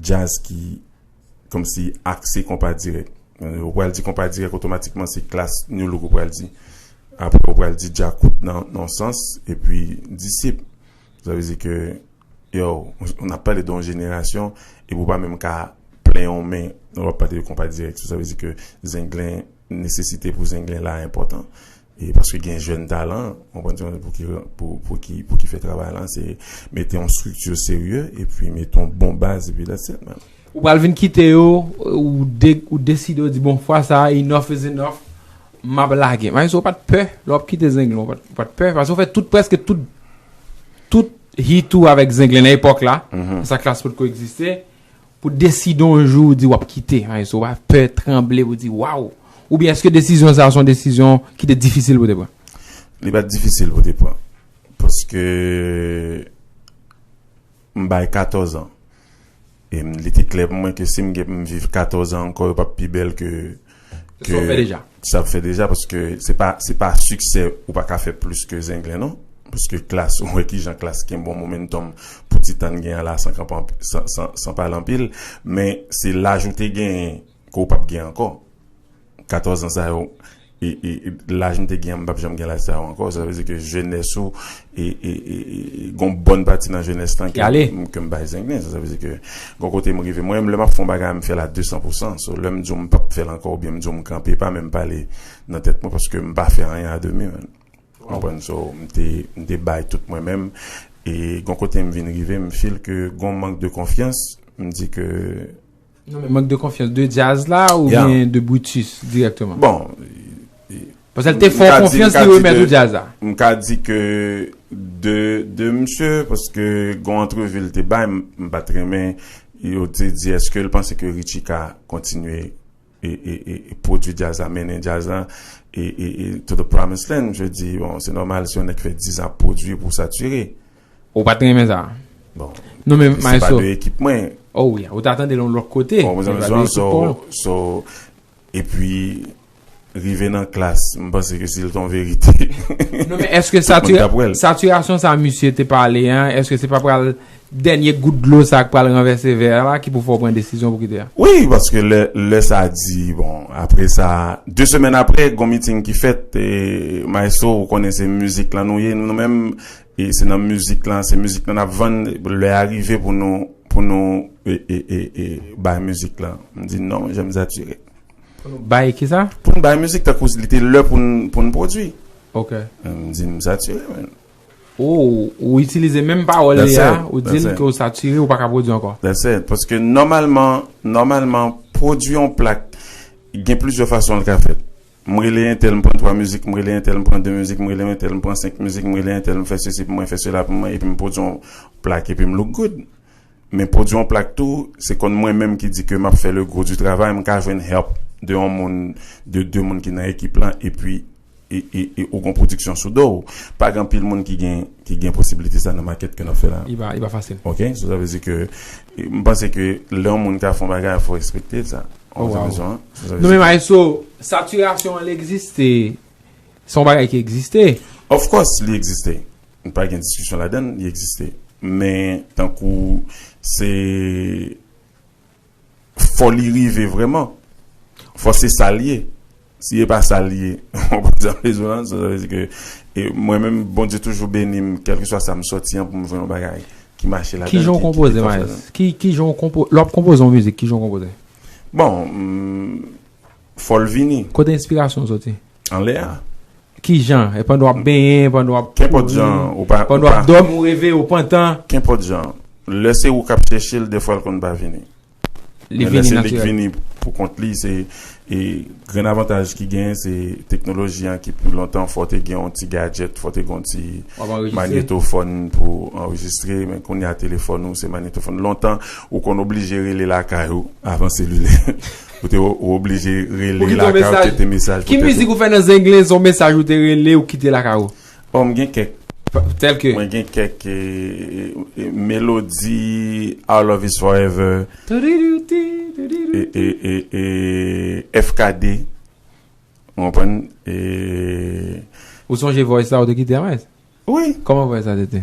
Jazz ki kòmsi akse konpa dirèk. Ou pral di konpa dirèk otomatikman se klass Nu Look ou pral di. Aprè ou pral di Djakout nan yon sans epi Disip. Sa vle di ke yow n ap pale de yon jenerasyon epi ou pa menm ka plen yon men lè w ap pale de konpa dirèk. Sa vle di ke zenglen nesesite pou zenglen la enpòtan. E paske gen jèn talan, konprann ti mesye pouki pou pouki pouki fè travay lan se mete yon structure serye epi mete yon bon baz epi that's it man. Ou pral vin kite yo ou de ou deside ou di bon fwa sa enough is enough map lage maestro ou pat pè lè wap kite zenglen ou pat pè paske ou fè tout prèske tout tout hit ou avèk zenglen nan epòk la sa klass potko egziste Pou deside yon jou ou di wap kite an eso pa pè tranble pou di waww oubyen eske desizyon sa son desizyon ki te difisil pou te pran? Li pat difisil pou te pran paske m bay 14 an e li te klè pou mwen ke sim gen pou m viv 14 an ankò yo pap pi bèl ke Ke sa w fè deja. Sa m fè deja paske se pa se pa siksè ou pa ka fè plis ke zenglen non. Paske Klass ou wè kijan Klass gen bon momentum pou ti tan n gen an la san kanpe anpi san san san pale anpil. Men se laj ou te genyen ke w pap gen ankò. 14 ans sa yo e e laj m te gen an m pap janm gen laj sa yo ankò. Sa vle di ke jenès ou E gon bòn pati nan jenès lan ke m bay zenglen. Sa vle di ke gon kote m rive. Mwen menm lè m ap fè yon bagay m fè l a 200 pou 100. So lè m di w m p ap fè l ankò oubyen m di w m kanpe pa menm pale nan tèt mwen paske m pa fè anyen a demi menm. Ou konprann? So m te m te bay tout mwen menm. E gon kote m vin rive m feel ke gon mank de konfyans. M di ke. Non men mank de konfyans de Diaz la ou byen de Brutus direktman? Bon. Pasè l te fè w konfyans li remèt ou Diaz la. M ka di ke de msye paske gon antrevi l te bay m pat renmen yo te di eske l panse ke Richie ka kontinye e pwodui Diaz la mennen Diaz la e to the promise land msye di bon se nòmal si yon nèg fè 10 an ap pwodui pou w satire. Ou pat renmen sa? Bon. Non men Maestro. Se pa de ekip mwen. Oh oui, ou ta tande l yon lòt kote. Bon, se pa de ekip pa w. So, e pi, rive nan klas, m panse ke si l te yon verite. Non men, eske satirasyon sa misye te pale an, eske se pa pral dènye gout dlo sa k pral ranvèse vè a la ki pou fè w pran desizyon pou kite a? Oui, paske lè sa di, bon, apre sa, de semèn apre, gon meeting ki fèt, e Maestro, ou konnen se mizik la nou ye, nou menm, E se nan mizik lan, se mizik lan nap vann, lè a rive pou nou, pou nou e bay mizik lan. M di non, je me sature. Pou nou bay ki sa? Pou nou bay mizik tankou li te lè pou nou, pou nou pwodui. Ok. M di m sature men. Ou, ou itilize menm pawòl li a, ou di l ke ou sature, ou pa ka pwodui ankò. That's it. Paske nòmalman, nòmalman pwodui yon plak gen plizyè fason li ka fèt. M rele entèl m pran 3 mizik, m rele entèl m pran 2 mizik, m rele entèl m pran 5 mizik, m rele entèl m fè sesi pou mwen, fè sela pou mwen epi m pwodui yon plak epi m look good. Men pwodui yon plak tou, se konn mwen menm ki di ke m ap fè le gros du travay, m ka jwenn help de yon moun, de 2 moun ki nan ekip lan epi e ou gon pwodiksyon sou do w. Pa gen anpil moun ki gen posibilite sa nan makèt ke n ap fè la. Li pa fasil. Ok, so sa vle di ke M panse ke lè yon moun ka fè yon bagay fò respekte sa. Ou konprann sa? Non men maestro, satirasyon an l egziste. Se yon bagay ki egziste. Of course li egziste. Pa gen diskisyon ladan l, li egziste. Men tankou se fò li rive vrèman. Fò se sa l ye. Si e pa sa l ye, mwen pa janm bezwen l. Sa vle di ke mwen menm Bondye toujou beni m kèlkeswa sa m sòti an pou m jwenn yon bagay ki mache ladan l. Kijan w konpoze Maes? Kijan w konpoze? Lè w ap konpoze yon mizik, kijan w konpoze? Bon, fò l vini. Kote enspirasyon w sòti? Anlè a. Kijan? E pandan w ap benyen, pandan w ap kouri? Kenpòt jan. Pandan w ap dòmi, w reve, w pantan? Kenpòt jan. Lè se ou k ap chèche l, dèfwa l konn pa vini. Li vini natirèl. Lè se li k vini pou kont li, se grenn avantaj ki genyen se teknoloji an ki pi lontan fò w te gen yon ti gadjèt, fò w te gen yon ti manyetofòn pou anrejistre, men kounye a telefòn ou se manyetofòn. Lontan ou konn oblije rele lakay ou avan selilè. Ou te oblije rele lakay ou kite mesaj pou tèt ou. Ki mizik ou fè nan zenglen son mesaj ou te rele ou kite lakay ou? Bon m gen kèk. Tèlke. Mwen gen kèk melodi Our Love Is Forever. Toudidoutidoudidoutidou. FKD. Ou konprann? E. Ou sonje voice la ou te kite a Maes? Wi. Kòman voice la te te?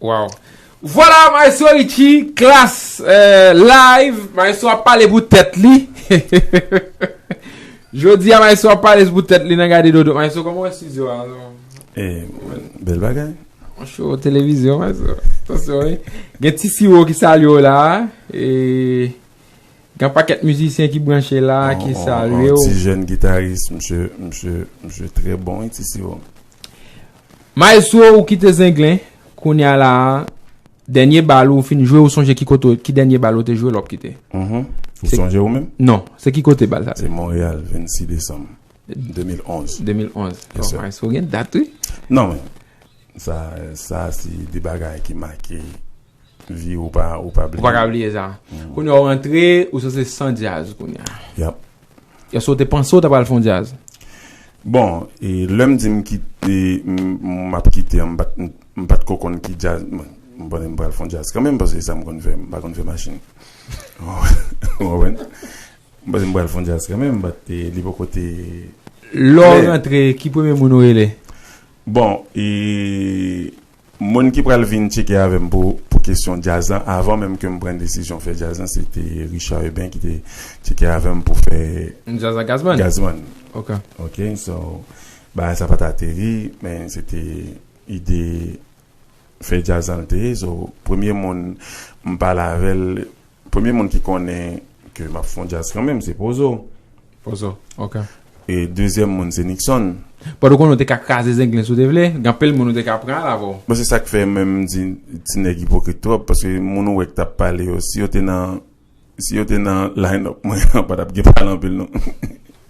Waw. Vwala maestro Richie klass live maestro ap pale pou tèt li Jodi a maestro ap pale pou tèt li nan gade dodo maestro koman wè studio a Bel bagay Cho televizyon maestro Gen ti siwo ki salye w la e. Gan paket mizisyen ki branche la ki salye w. On ti jèn gitaris msye msye msye trè bon wi ti siwo. Maestro ou kite zenglen kounya la dènye bal ou fin jwe ou sonje ki kote ki dènye bal ou te jwe lè wap kite? Ou sonje ou menm? Non, se ki kote bal sa te? Se Montréal 26 desanm 2011. 2011. Bon maestro gen dat wi. Non men sa sa se de bagay ki make. Vye ou pa ou pa bliye. Ou pa ka bliye sa. Kounya ou rantre ou sanse san djaz kounya. Yap. Eske ou te panse ou ta pral fon djaz? Bon, e lèm di m kit e m ap kite an m pat m pat ko konn ki djaz m konnen m pral fon djaz kanmenm paske se sa m konn fè m pa konn fè machin. Ou konprann? M panse m pral fon djaz kanmenm bat e li poko te Lè ou rantre ki premye moun ou rele? Bon, e Moun ki pral vin tcheke avè m pou pou kesyon djaz lan avan menm ke m pran desizyon fè djaz lan se te Richard Eubin ki te tcheke avè m pou fè Djaz ak Gazzman? Gazzman. Ok. Ok, so bagay sa pa t ateri men se te ide fè djaz lan l te ye. So premye moun m pale avè l Premye moun ki konnen ke map fon djaz kanmenm se pozo. Pozo ok. E dezyèm moun se Nickson. Pòt ou konnen ou te ka kraze zenglen si ou te vle, gen anpil moun ou te ka pran al avè w. Bon se sak fè menm m di ti nèg ipokrit twòp paske moun ou wè ki tap pale yo si yo te nan si yo te nan line up mwen an pa tap gen pale anpil non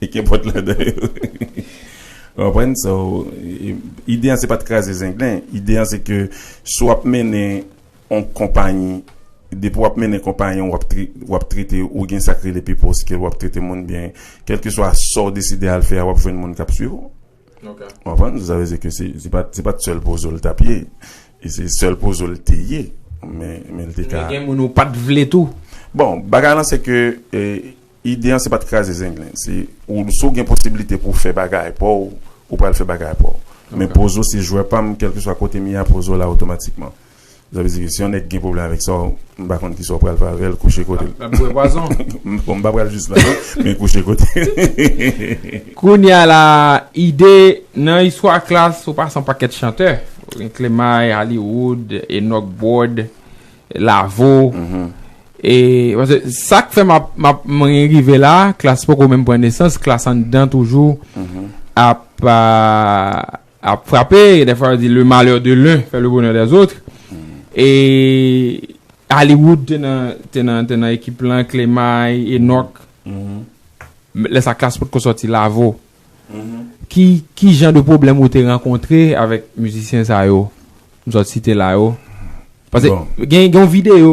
e kenpòt ladan yo ou konprann so ide an se pat kraze zenglen ide an se ke si w ap mennen On konpayi, depi w ap mennen konpayi an, w ap trete, ou gen sa k rele pipo skill, w ap trete moun byen. Kèlkeswa sa w deside al fè a, w ap jwenn moun k ap suiv ou. Ou konprann? Sa vle di ke se pa t sèl pozo l t ap ye. E se sèl pozo l te ye. Men l te ka. Men gen moun ou pa t vle tou. Bon, bagay lan se ke. Ide an se pat kraze zenglen se ou si w gen posibilite pou w fè bagay pa w ou pral fè bagay pa w men pozo se jwè pa m kèlkeswa kote m ye a pozo la otomatikman sa vle di ke si yon nèg gen pwoblèm avèk sa w m pa konn kisa w pral fè avè l kouche kote l Lap bwè pwazon bon m pa pral jis la non men kouche kote l. Kounya la Ide nan istwa klass ou pase yon pakèt chantè ou gen Klemay, Hollywood, Enock Bord. Lavo E Pase sak fè map map mwen rive la klas poko menm pran nesans klas anndan toujou ap ap frape e defwa yo di le malheur de l'un fait le bonheur des autres e Hollywood te nan te nan te nan ekip lan Clemay Enock lè sa klas potko sòti Lavo Ki ki jan de pwoblèm ou te rankontre avèk mizisyen sa yo m sot site la yo? Pase gen gen yon videyo.